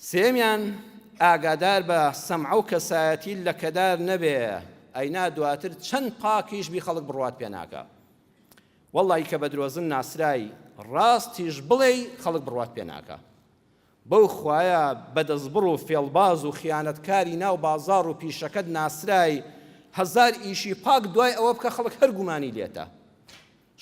سێیەمیان، ئاگادار بە سەمعە و کەسایەتی لەکەدار نەبێ، ئەینا دواتر چەند پاکیش بی خەڵک بڕوات پێ ناکا. وەڵڵاهی کە بە درۆزن ناسرای، ڕاستیش بڵێی خەڵک بڕوات پێ ناکا. بەو خوایە بە دەستبڕ و فێڵباز و خیانەتکاری ناو بازاڕ و پیشەکەت ناسرای، هەزار ئیشی پاک دوای ئەوە بکە خەڵک هەر گومانی لێتە.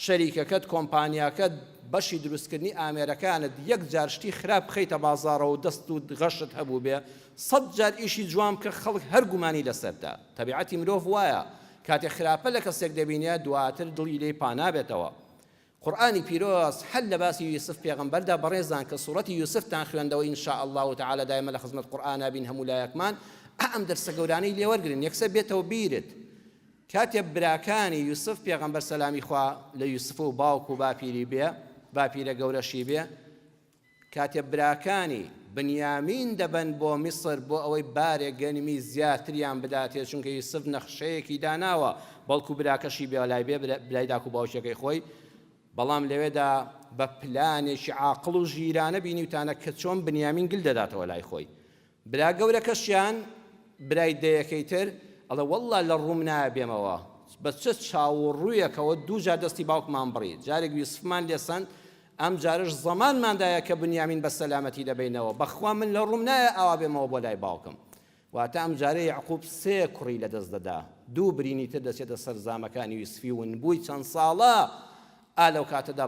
شەریکەکەت، کۆمپانیاکەت، بەشی دروستکردنی ئامێرەکانت، یەک جار شتی خراپ بخەیتە بازاڕەوە و دەست و غەشت هەبووبێ، سەد جار ئیشی جوان بکە خەڵک هەر گومانی لەسەرتە. تەبیعەتی مرۆڤ وایە، کاتێ خراپە لە کەسێک دەبینێ، دواتر دڵی لێی پانابێتەوە. قورئانی پیرۆز هەر لە باسی یوسف پێغەمبەردا بەڕێزان کە سوڕەتی یوسفتان خوێندەوە ان شاء اللە تعالی دایمە لە خزمەت قورئانا بین هەموو لایەکمان ئەم دەرسە گەورانەی لێوەرگرن یەکسەر بێتەوە بیرت کاتێ براکانی یوسف پێغەمبەر سەلامی خوا لە یوسف و باوک و باپیری بێ باپیرە گەورەشی بێ کاتێ براکانی بنیامین دەبەن بۆ میسر بۆ ئەوەی بارێک گەنمی زیاتریان بداتێ چونکە یوسف نەخشەیەکی داناوە بەڵکو براکەشی بێلای بێ برای داک و باوکیەکەی خۆی بەڵام لەوێدا بە پلانێکی عاقڵ و ژیرانە بینیوتانە کە چۆن بنیامین گل دەداتەوە لای خۆی برا گەورەکەشیان برای دەیەکەی تر ئەڵێ وەڵڵا لە ڕووم نایە بێمەوە بە چ چاو و ڕوویەکەوە دوو جار دەستی باوکمان بڕی جارێک یوسفمان لێ سەند ئەم جارەش زەمانمان دایە کە بنیامین بە سەلامەتی دەبەینەوە بەخوا من لە ڕووم نایە ئاوا بێمەوە بۆ لای باوکم واتە ئەم جارە یەعقوب سێ کوڕی لە دەست دەدا دوو برینی تر دەچێتە سەر زامەکانی یوسفی ونبووی چەند ساڵە ئا لەو کاتەدا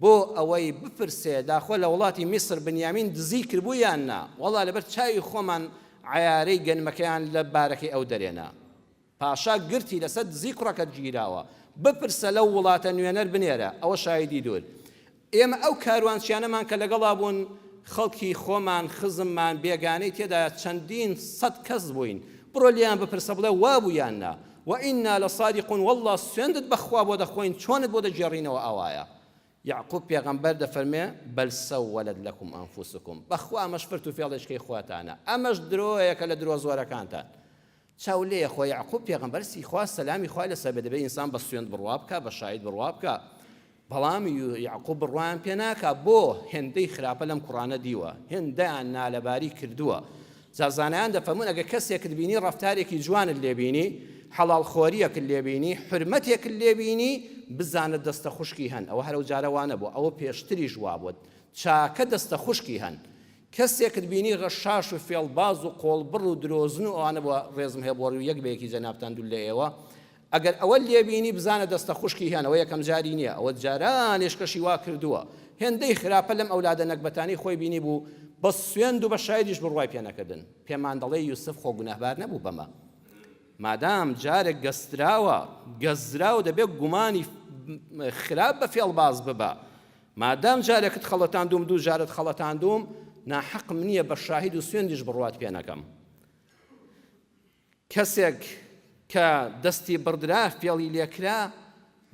بۆ ئەوەی بپرسێ داخۆ لە وڵاتی میسر بنیامین دزی کردبوو یان نا، وەڵا لەبەر چاوی خۆمان عەیارەی گەنمەکەیان لە بارەکەی ئەو دەرێنا. پاشا گرتی لەسەر دزی کوڕەکەت گیراوە، بپرسە لەو وڵاتە نوێنەر بنێرە، ئەوە شاهیدی دوور. ئێمە ئەو کاروانچیانەمان کە لەگەڵا بوون خەڵکی خۆمان، خزممان، بێگانەی تێدایە چەندین سەد کەس بووین، بڕۆ لێیان بپرسە بڵێ وابوو یان نا. وە ئینا لەسادیقون وەڵڵا سوێندت بەخوا بۆ دەخۆین چۆنت بۆ دەگێڕینەوە ئاوایە یەعقوب پێغەمبەر دەفەرموێ بەل سەوەلەت لەکوم ئەنفوسکوم بەخوا ئەمەش فرت و فێڵێچکەی خۆتانە ئەمەش درۆیەکە لە درۆ زۆرەکانتان چاو لێیە خۆ یەعقوب پێغەمبەر سی خوا سەلامی خوای لەسەر بێت دەبێ ئینسان بە سوێند بڕوا بکا بە شاید بڕوا بکا بەڵام یەعقوب بڕوایان پێ ناکا بۆ هێندەی خراپە لەم کوڕانە دیوە هێندەیان نالەباری کردووە جا زانایان دەفەرمون ئەگە کەسێکت بینی ڕەفتارێکی جوانت لێبینی حەڵاڵ خۆریەکت لێبینی حرمەتێکت لێبینی بزانە دەستە خوشکی هەن ئەوە هەرو جارەوانە بۆ ئەوە پێشتریش وابوت چاکە دەستە خوشکی هەن کەسێکت بینی غەشاش و فێڵباز و قۆڵبڕ و درۆزن و ئەوانە بۆ ڕێزم هەیە بۆ ڕوو یەک بەیەکی جەنابتان دوول لە ئێوە ئەگەر ئەوەت لێ بینی بزانە دەستە خوشکی هێن ئەوە یەکەم جاری نیە ئەوە جاران ئێشکەشی وا کردووە هێندەی خراپە لەم ئەولادە نەگبەتانەی خۆی بینی بوو بە سوێند و بە شایدیش بڕوای پێ نەکردن پێمان دەڵێ یوسف خۆ گوناهبار نەبوو بەمە مادام جارێک گەستراوە گەزراو دەبێت گومانی خراپ بە فێڵباز ببە مادام جارێکت خەڵەتاندوم دوو جارت خەڵەتاندوم ناحەقم نییە بە شاهید و سوێندیش بڕوات پێ نەکەم کەسێک کە دەستی بڕدرا فێڵی لێکرا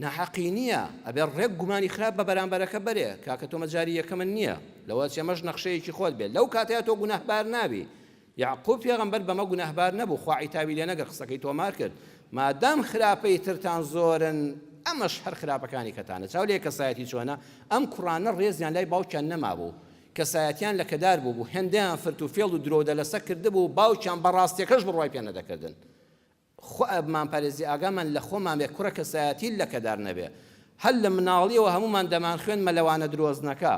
ناحەقی نییە ئەبێ ڕێک گومانی خراپ بە بەرامبەرەکە بەرێ کاکە تۆمە جاری یەکەمە نییە لەوە چێمەش نەخشەیەکی خۆت بێت لەو کاتەیە تۆ گوناهبار نابی یعقوب پێغەمبەر بەمە گوناهبار نەبوو خوا عیتابی لێ نەگە قسەکەی تۆمار کرد مادام خراپەی ترتان زۆرن ئەمەش هەر خراپەکانی کەتانە چاو لێ کەسایەتی چۆنە ئەم کوڕانە ڕێزیان لای باوکیان نەمابوو کەسایەتیان لەکەدار بووبوو، هێندەیان فرت و فێڵ و درۆودەلەسە کردبوو و باوکیان بە ڕاستیەکەش بڕوای پێ نەدەکردن. خۆئەبمان پارێزی ئاگامان لە خۆمان بێ کوڕە کەسایەتی لەکەدار نەبێ. هەر لە مناڵیەوە هەموومان دەمانخوێند مەلەوانە درۆزنەکە.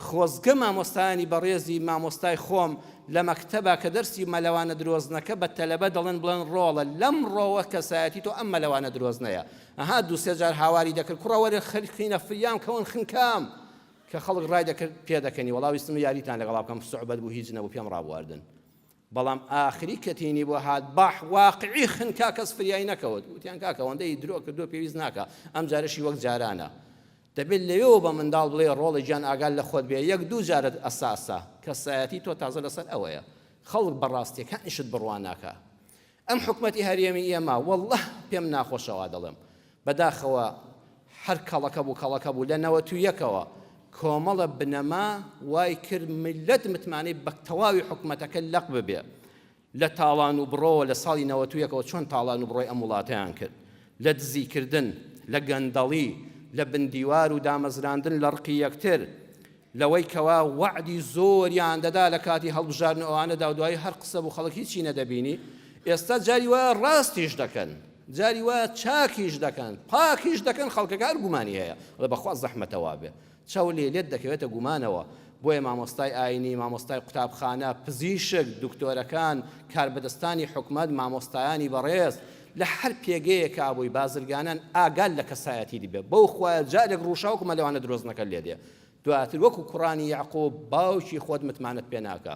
خۆزگە مامۆستایانی بەڕێزی مامۆستای خۆم لە مەکتەبا کە دەرسی مەلەوانە درۆزنەکە بە تەلەبە دەڵێن بڵێن ڕۆڵە لەم ڕۆوە کەسایەتی تۆ ئەم مەلەوانە درۆزنەیە. ئەها دوو سێ جار هاواری دەکرد کوڕە وەرن خەرخینە فریام کەون خنکام. کە خەڵک ڕای دەکرد پێدەکەنی وەڵا ویستم یاریتان لەگەڵا بکەم سوعبەت بوو هیچ نەبوو پێم ڕابواردن بەڵام ئاخری کە تینی بۆ هات باح واقعی خنکا کەس فریای نەکەوت وتیان کاکە ئەوەندەی درۆ کردو پێویست ناکە ئەم جارەشی وەک جارانە دەبێت لەوێەوە بە منداڵ بڵێ ڕۆڵی گیان ئاگال لە خۆت بێ یەک دوو جارت ئەساسا کەسایەتی تۆ تازە لەسەر ئەوەیە خەڵک بەڕاستیەکانیشت بڕوا ناکا ئەم حکومەتی هەرێمی ئێمە واللە پێم ناخۆشە وا دەڵێم بەداخەوە هەر کەڵەکە بوو کەڵەکە بوو لە نەوەت و یەکەوە کۆمەڵە بنەما وای کرد ملت متمانەی بە تەواوی حکومەتەکە لەق ببێ لە تاڵان و بڕۆوە لە ساڵی نەوەت و یەکەوە چۆن تاڵان و بڕۆی ئەم وڵاتیان کرد لە دزیکردن لە گەندەڵی لە بندیوار و دامەزراندن لە ڕقی یەکتر لەوەی کەوا وەعدی زۆریان دەدا لە کاتی هەڵبژاردن و ئەوانەدا و دوایی هەر قسە بوو خەڵک هیچی نەدەبینی ئێستا جاری وایە ڕاستیش دەکەن جاری وایە چاکیش دەکەن پاکیش دەکەن خەڵکەکە هەر گومانی هەیە ڵە بەخوا زەحمەتە وابێ چاو لێ لێت دەکەوێتە گومانەوە بۆیە مامۆستای ئاینی مامۆستای قوتابخانە پزیشک دکتۆرەکان کاربەدەستانی حکومەت مامۆستایانی بەڕێز لە هەر پێگەیەکە بووی بازرگانان ئاگال لە کەسایەتی دیبێ بەو خوایە جارێک ڕووشاوکمە لەوانە درۆزنەکە لێدێ دواتر وەکو کوڕانی یەعقوب باوکی خۆت متمانەت پێناکا.